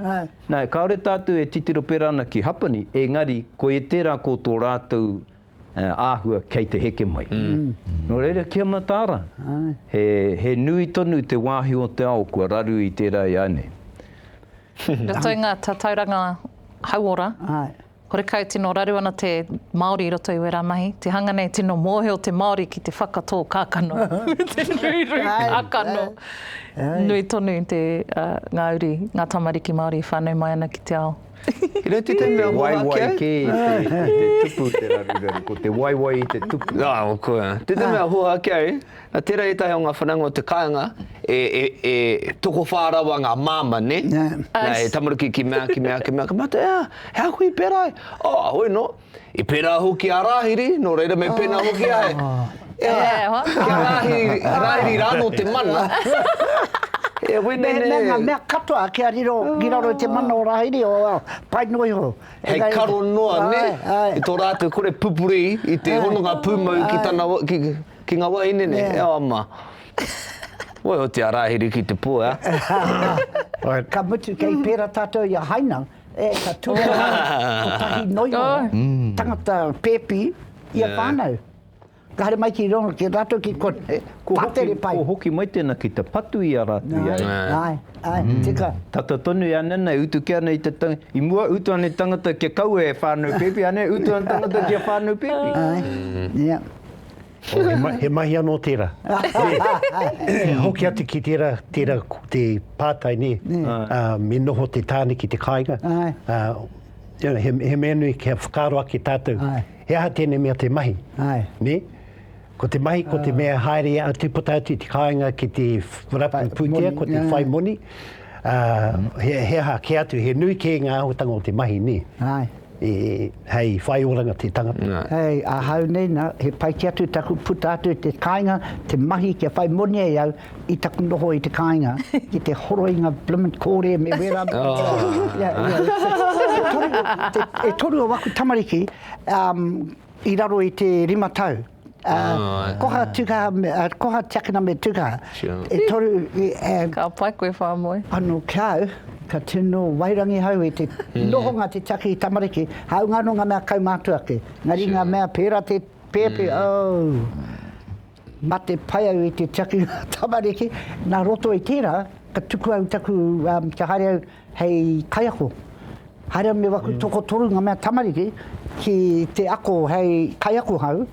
Nā, kāore tātou e titiro pērā ana ki Hapani, engari, koia tērā ko tō rātou He āhua kei te heke mai. Nō reira ki a Mataara, he nui tonu te wāhi o te ao kua raru i tērā i a nei. Roto i ngā tatauranga hauora, horekau tino raru ana te Māori i roto i wērā mahi. Te hanga nei tino mōhio te Māori ki te whakatō kākano me te ruirui kākano. Nui tonu ngā uri, ngā tamariki Māori i whānau mai ana ki te ao. He reti te mea moha ake au. Te waiwai kē i te tupu te raruraru, ko te waiwai i te tupu. Te te mea moha ake au, tērā ētahi o ngā whanaunga o te kāinga e tokowhā rawa ngā māmā, nē? He tamariki ki mea, ki mea, ki mea, ka mate, he ākuhi pērā ai. Oi nō! I pērā hoki a Rāhiri, nō reira me pēnā hoki a he, e hoa, ki a Rāhiri, Rāhiri rānō te mana. E wene nei. Mea ngā mea katoa kia riro ki raro i te mana o Rāhiri, o, well, pai noa iho. Hei karo noa, nē, i tō rātou kore pupuri i te hononga pūmau ki tana, ki, ki ngā wāhine nei, e hoa mā. Wai oti a Rāhiri ki te pō, ā. Ka mutu, kei pērā tātou i a Haina. E, ka ture rā kotahi noio tangata pēpi i a whānau. Ka haere mai ki rongo, ki rātou ki konei, pātere pai. Ko hoki mai tēnā ki te patu i a rātou i a ia. Āe, āe, tika. Tata tonu i a Nana e utu kē ana i te tangata, i mua utu ana i tangata kia kaua e whānau pēpi, ānei utu ana tangata ki a whānau pēpi. Āe, ia. Oh, he, ma he mahi anō tērā. e hoki atu ki tērā, tērā te pātai, nē, uh, me noho te tāne ki te kāinga. Uh, he, he mea nui kia whakaaro ake tātou. Ai. He aha tēnei mea te mahi? Ai. Nē? Ko te mahi, ko te ah. mea haere atu puta atu te kāinga ki te rapu pūtea, ko te whai moni. Ā, he, he aha, kē atu, he nui kē ngā āhuatanga o te mahi, nē? Āe. E, hei whai oranga te tangata. Nā. Hei, ahau nei, nā, he pai kē atu taku puta atu i te kāinga, te mahi kia whai moni ai au i taku noho i te kāinga, ki te horo i ngā bloomin' kōrē me wērā. Ia, ia, e toru, e toru o aku tamariki, um, i raro i te rima tau. Āe. Koha Tukaha, koha tiakina me Tukaha. Sure. E toru, e. Ka pai koe whamoe. Ano ki a au, ka tino wairangi hau i te nohonga te tiaki i tamariki, haunga ano nga mea kaumātua ake. Engari nga mea pēra te pēpi, oh, mate pai au i te tiaki i nga tamariki. Na roto i tēra, ka tuku au taku, kia haere au, Hei kaiako, haere me waku tokotoru nga mea tamariki ki te ako hei kaiako hau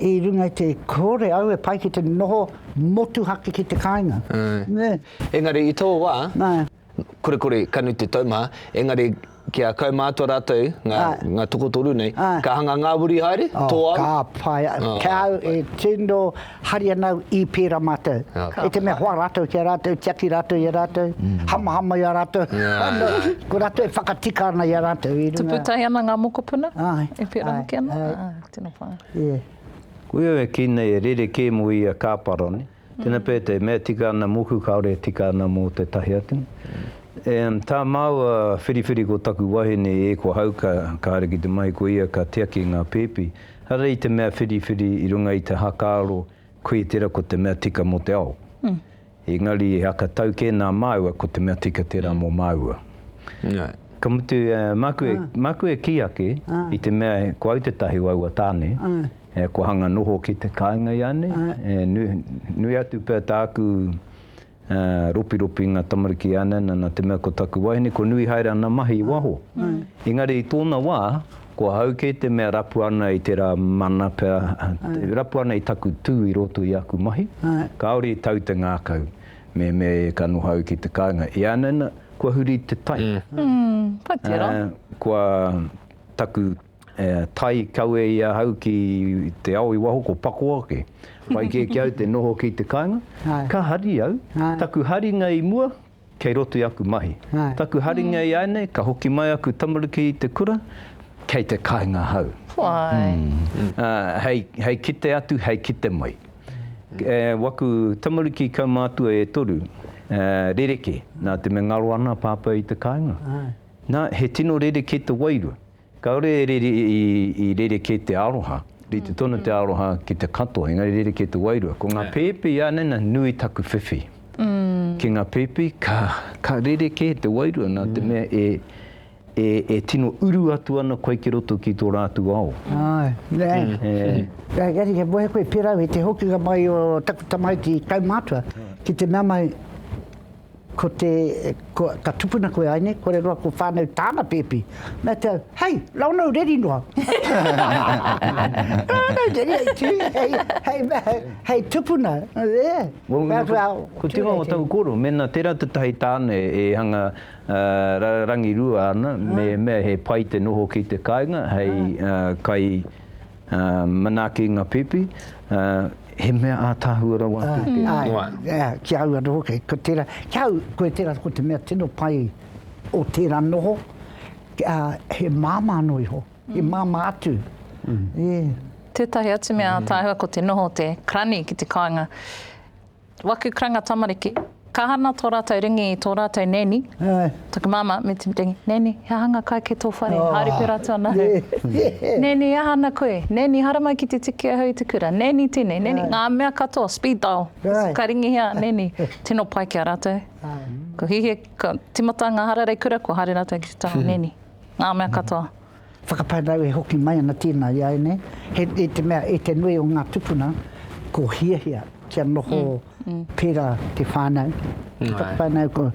i runga i te kore au e pai ki te noho motuhake ki te kainga. Engari i to wa, kore kore ka nui te taumaha, engari kia kaumātua ratou nga tokotoru nei, ka hanga ngawiri haere, to au? Ka pai, kia au e tino Haria nāu i pērā mātou. I te mea hoa rātou ki a rātou, tiaki rātou i a rātou, hamahama i a rātou, ko rātou e whakatika ana i a rātou i runga. Tuputai ana ngā mokopuna? Āe. E pērā hoki ana? Āe. Āe, tēnā koa. Yeah. Koia e kī nei e rere kē mō ia kāpara nei. Tēnā pea te mea tika ana mōku kāore e tika ana mō tētahi atu. Em, tā māua whiriwhiri ko taku wahine e kua hauka, kāore ki te mahi ko ia ka tiaki i ngā pēpi, Arā i te mea whiriwhiri i runga i te hakaaro koe tera ko te mea tika mo te ao. Engari he haka tau ke na maua ko te mea tika tera mo maua. Ka mutu maku e maku e ki ake i te mea ko au te tahi o aua tane kua hanga noho ki te kainga ianei e nui atu pea taku Ropiropi nga tamariki e ana ana na te mea ko taku wahine ko nui haere ana mahi i waho. Engari i tona wa, ko ahau kei te mea rapu ana i tera mana pea, e rapu ana i taku tu i roto i aku mahi, kaore i tau te ngakau, me me ka noho au ki te kainga. E ana ana, kua huri te tai. Pai tera. Kua taku Tai kawe i ahau ki te ao i waho ko Pakoa ake. Whai kē ki au te noho ki te kāinga. Ka hari au, taku haringa i mua, kei roto i aku mahi. Taku haringa i āinei, ka hoki mai aku tamariki i te kura, kei te kāinga ahau. Hei kite atu, hei kite mai. Waku tamariki kaumātua e toru, rerekē. Nā te mea ngaro ana a Pāpā i te kāinga. Nā, he tino rerekē te wairua. Kāore e rere, i rerekē te aroha, rite tonu te aroha ki te katoa, engari rerekē te wairua. Ko ngā pēpi ānana nui taku whiwhi. Ki ngā pēpi, ka, ka rerekē te wairua nā te mea e, e, e tino uru atu ana koe ki roto ki tō rātou ao. Āe, āe. Engari he moe koe pērā i te hokinga mai o taku tamaiti kaumātua ki te mea mai, Ko te, ko, ka tupuna koe ai nei, kore roa ko whanau tāna pēpi. Nā te au, hei, rau nau reri noa. rau nau reri ai tū, hei, hei, hei, hei tupuna, yeah. Well, ko, ko te ingoa o taku koro, mēnā tērā tētahi tāne e hanga uh, rangirua ana, me mea he pai te noho ki te kāinga, hei uh, kai, Manaaki nga pipi, he mea ataahua rawa atu te reo. Ae, ki au ano hoki, ko tera, ki au, koe tera ko te mea tino pai o tera noho, he mama ano iho, he mama atu. Tetahi atu mea ataahua ko te noho o te karani ki te kainga. Waku karanga tamariki. Ka hana tō rātou ringi i tō rātou nanny, taku māmā me te ringi, Nanny, he aha ngā kai kei tō whare? Haere pērā atu ana au. Nanny, he aha ana koe? Nanny, haere mai ki te tiki ahau i te kura. Nanny tēnei, Nanny, ngā mea katoa, speed dial, ka ringihia a Nanny. Tino pai ki a rātou. Kua hihia, kua tīmata ngā hararei kura, kua haere rātou ki te taha o Nanny. Ngā mea katoa. Whakaparau e hoki mai ana tēnā i a au nei, he, i te mea, i te nui o ngā tupuna, ko hiahia kia noho pērā te whānau, te whakawhānau, ko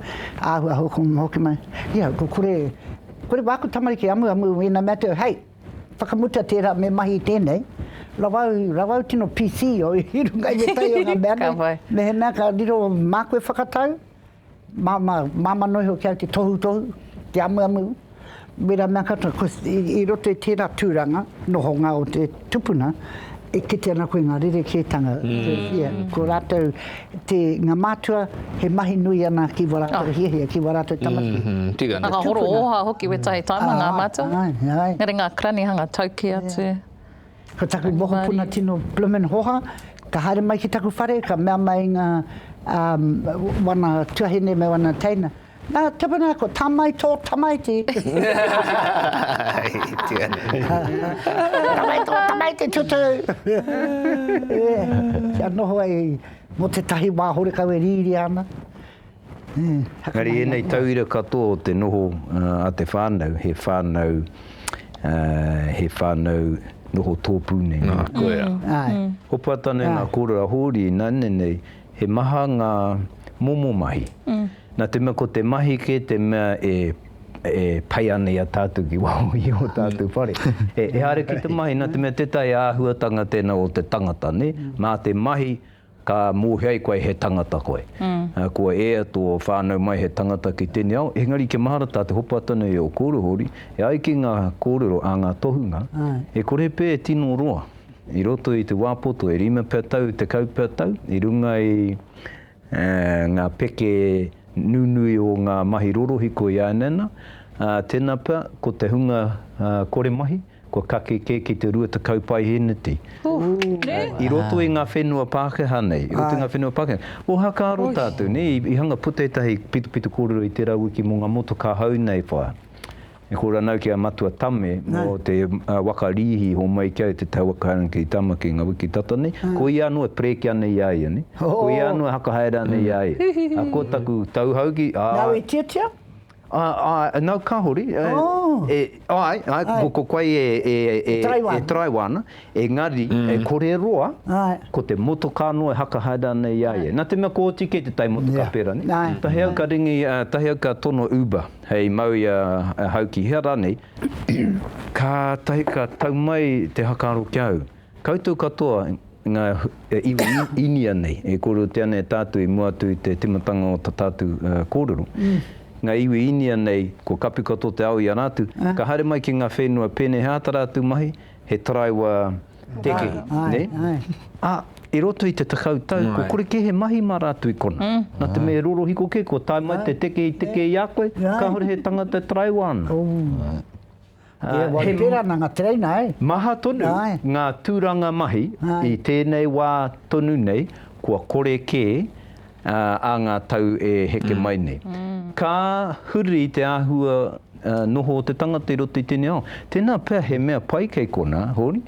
āhua hoki mai, ia, ko kore, kore wāku tamariki amuamu i ēnā mea atu, hei, whakamutua tērā me mahi i tēnei, rawa au, rawa au tino PC i runga i ētahi o ngā mea nei, mehemea ka riro māku e whakatau, Māmā, māmā noa iho ki au te tohutohu, te amuamu, wera mea katoa, ko, i, i roto i tērā tūranga, nohonga o te tupuna, e kite ana koe ngā rerekētanga, ia, ko rātou, te, ngā mātua, he mahi nui ana ki wā rātou hiahia, ki wā rātou tamariki. Tika. Ngā horo ōha hoki wētahi taima, ngā mātua. Āe, āe. Engari ngā karanihanga tauki atu. Ko taku mokopuna tino bloomin hoha, ka haere mai ki taku whare ka mea mai nga wana tuahine me wana teina, Na Tipuna ko tamai to tamaiti. Tamai to tamaiti tutu. Kia noho ai mo tetahi wa horekau e riria ana. Engari ēnei tauira katoa o te noho a te whānau, he whānau, he whānau noho tōpū nei. Nā, koia. Hopa tane ngā kōrero a Hōri, nāne nei, he maha ngā momo mahi. Nā te mea ko te mahi kē te mea e pai ana i a tātou ki waho i ō tātou whare. E haere ki te mahi, nā te mea tētahi āhuatanga tēnā o te tangata, nē? Mā te mahi. Ka mōhio ai koe he tangata koe. Kua ea tō whānau mai he tangata ki tēnei ao, engari kia mahara tā te hopa tonu i ō kōrero hōri, e ai ki ngā kōrero a ngā tohunga, e kore pea e tino roa i roto i te wā poto, e rima pea tau, tekau pea tau, i runga i ngā peke nunui o ngā mahi rorohiko i āianei ana, ā, tēnā pea ko te hunga kore mahi, Kua kake kē ki te rua tekau paeheneti. I roto i ngā whenua Pākehā nei, i roto i ngā whenua Pākehā nei. Ohakāro tātou nei, i hanga puta ētahi pitopito kōrero i tērā wiki mō ngā motokā hou nei wha. E kōrero ana au ki a Matua Tame mō te waka rīhi homai ki a te taua kāinga ki Tamaki ngā wiki tata nei, ko ia anō e prēke ana i a ia nei, ko ia anō e hakahaere ana i a ia. Ko taku tau hau ki, ā. Nāu i tiatia? Āe, nau kāore. Āe, āe, ko koe e taraiwa ana, engari, kore roa, ko te motokā noa e hakahaere ana i a ia. Nā te mea kua oti kē te tai motokā pērā nei. Tahi au ka ringi, tahi au ka tono Uber hei mau i a Hauki, hea rānei, kātahi ka tau mai te hakaaro ki a au. Koutou katoa nga iwi Inia nei e korotia nei tatou i mua atu i te timatanga o ta tatou korero. Nga iwi Inia nei kua kapi katoa te ao i a ratu, ka haere mai ki nga whenua penei he ata ratu mahi, he taraiwa tekehi, ne? A i roto i te tekau tau kua kore ke he mahi ma ratu i kona. Na te mea e rorohiko ke kua tae mai te tekehi tekehi a koe, kahore he tangata e taraiwa ana. Ia, wai pērā nā ngā tereina, āe. Maha tonu ngā tūranga mahi i tēnei wā tonu nei kua kore kē ā ngā tau e heke mai nei. Ka huri te āhua noho o te tangata i roto i tēnei ao. Tēnā pea he mea pai kei konā, hōni,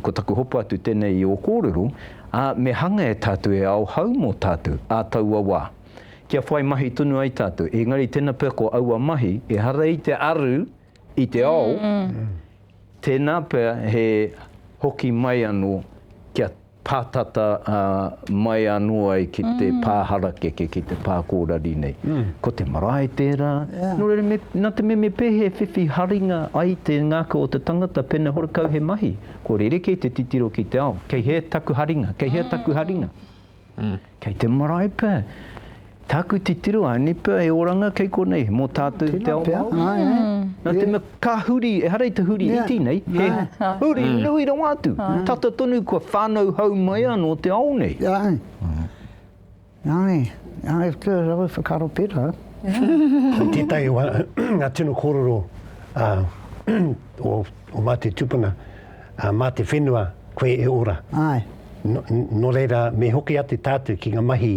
ko taku hopa atu tēnei i ō kōrero, ā, me hanga e tātou e ao hau mō tātou ā taua wā. kia whai mahi tonu ai tātou. Engari tēnā pea ko aua mahi, ehara i te aru i te ao, tēnā pea he hoki mai anō kia pātata mai anō ai ki te pā harakeke, ki te pā kōrari nei. Ko te marae tērā, nō reira me, nā te mea me pēhea e whiwhi haringa ai te ngākau o te tangata pēnei horekau he mahi, kua rerekē te titiro ki te ao, kei hea taku haringa, kei hea taku haringa. Kei te marae pea. Tāku titiro, I only pea e oranga kei konei, mō tātou te ao Māori. Nā te mea, ka huri, ehara i te huri iti nei, he huri nui rawa atu. Tata tonu kua whānau hau mai anō te ao nei. Āe. Āe. Āe, ko rāua whakaaro pērā. Ko tētahi o ngā tino kōrero o Ngāti Tupuna, ā, mā te whenua koe e ora. Āe. Nō, nō reira, me hoki atu tātou ki ngā mahi,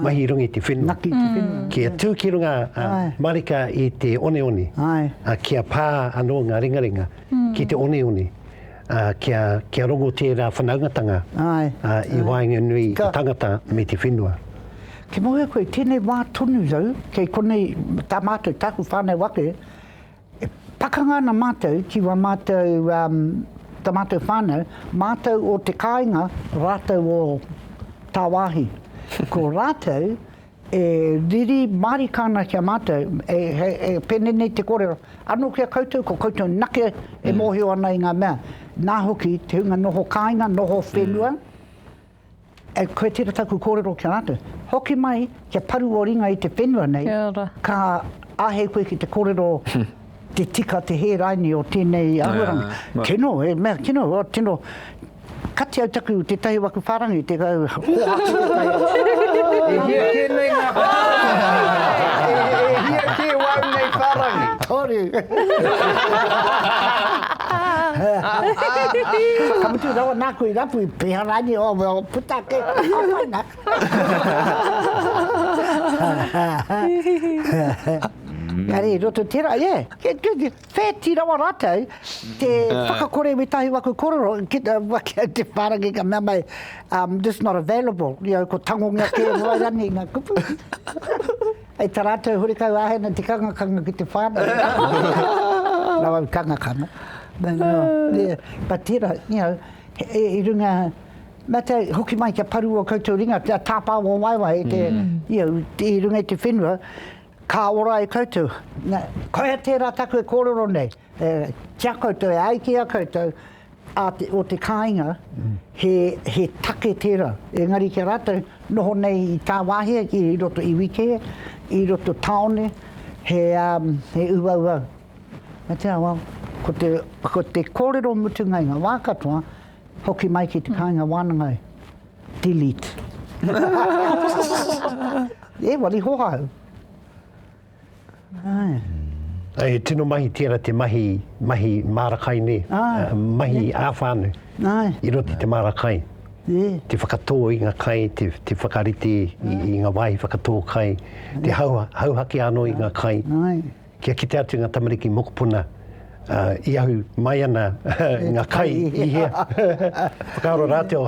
mahi runga i te whenua. Ngaki i te whenua. Kia tū ki runga, ā, marika i te oneone. Āe. Ā, kia pā anō ngā ringaringa ki te oneone, ā, kia, kia rongo tērā whanaungatanga, Āe. ā, i waenganui i te tangata me te whenua. Kia mōhio koe, tēnei wā tonu rau, kei konei tā mātou, tāku whānau ake, E pakanga ana mātou ki wā mātou, tā mātou whānau, mātou o te kāinga, rātou o tāwāhi. Ko rātou e riri mārika ana ki a mātou, e pēnei nei te kōrero, anō ki a koutou, ko koutou nake e mōhio ana i ngā mea. Nā hoki te hunga noho kāinga, noho whenua, E koe tera taku korero ki a ratou. Hoki mai kia paru o ringa i te whenua nei, ka ahei koe ki te korero te tika te hē raini o tenei ahuaranga. Tino, e mea tino, o tino, kati au taku tetahi waku wharangi te kau hoatu te kai au. E hia ke nei nga wharangi? E hia ke wau nei wharangi? Toru. Ka mutu rawa naku i rapu i. Piharani o Will puta ake ki nga mana. Engari i roto tera ia e wheti rawa ratou te whakakore me tahi waku korero ki te waki au te wharangi ka mea mai um just not available you know ko tangongia ke wai rani nga kupu hei ta ratou horekau ahe na te kangakanga ki te whanau rawa kangakanga but tera you know He i runga, mea te hoki mai kia paru o koutou ringa, kia tāpā o waewae e te, ia, i runga i te whenua, ka ora e koutou. Na, koia tērā taku e kōrero nei, e, ki a koutou, e ai ki a koutou, a te, o te kāinga, he, he take tērā. Engari ki a rātou, noho nei i tāwāhia, i roto iwi kē, i roto tāone, he, he uaua He Te Awa, ko te, ko te kōrero mutunga i ngā wā katoa, hoki mai ki te kāinga wānanga e. Delete. e wari hohāu. Ae. E tino mahi tēra te mahi, mahi māra kai nei, ah, mahi yeah. āwhānu, Ai. i roti te māra kai. Yeah. Te whakatō i ngā kai, te, te whakarite i, i ngā wāhi whakatō kai, Ai. te hau, hauhake anō i ngā kai. Ai. Kia kite atu nga tamariki mokopuna i ahu mai ana nga kai i hea. Whakaaro ratou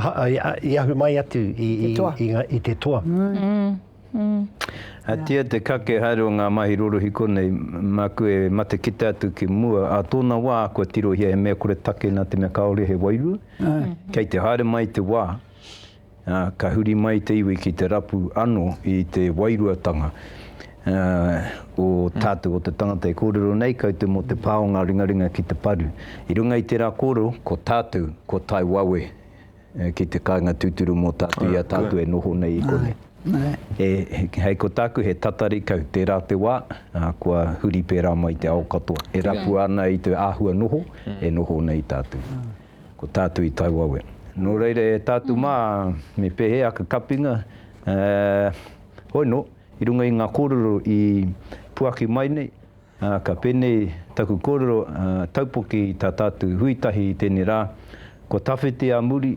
i ahu mai atu i te toa. Atia te kake haere o nga mahi rorohiko nei, maku e mate kite atu ki mua, a tona wa kua tirohia he mea kore take na te mea kaore he wairua, kei te haere mai te wa. ā, ka huri mai te iwi ki te rapu anō i te wairuatanga, ā, o tātou, o te tangata e kōrero nei, kaute mō te pā o ngā ringaringa ki te paru. I runga i tērā kōrero, ko tātou, ko tae wawe ki te kāinga tūturu mō tātou i a tātou e noho nei i konei. E, hei ko tāku he tatari kau, tērā te wā, ā, kua huri pērā mai te ao katoa, e rapua ana i te āhua noho, e noho nei tātou. Ko tātou i tae wawe. Nō reira e tātou mā, me pēhea ka kapinga, hoino, i runga i ngā kōrero i puaki mai nei, ka pēnei taku kōrero taupoki i tā tātou hui tahi i tēnei rā, Ko Tawhiti a muri,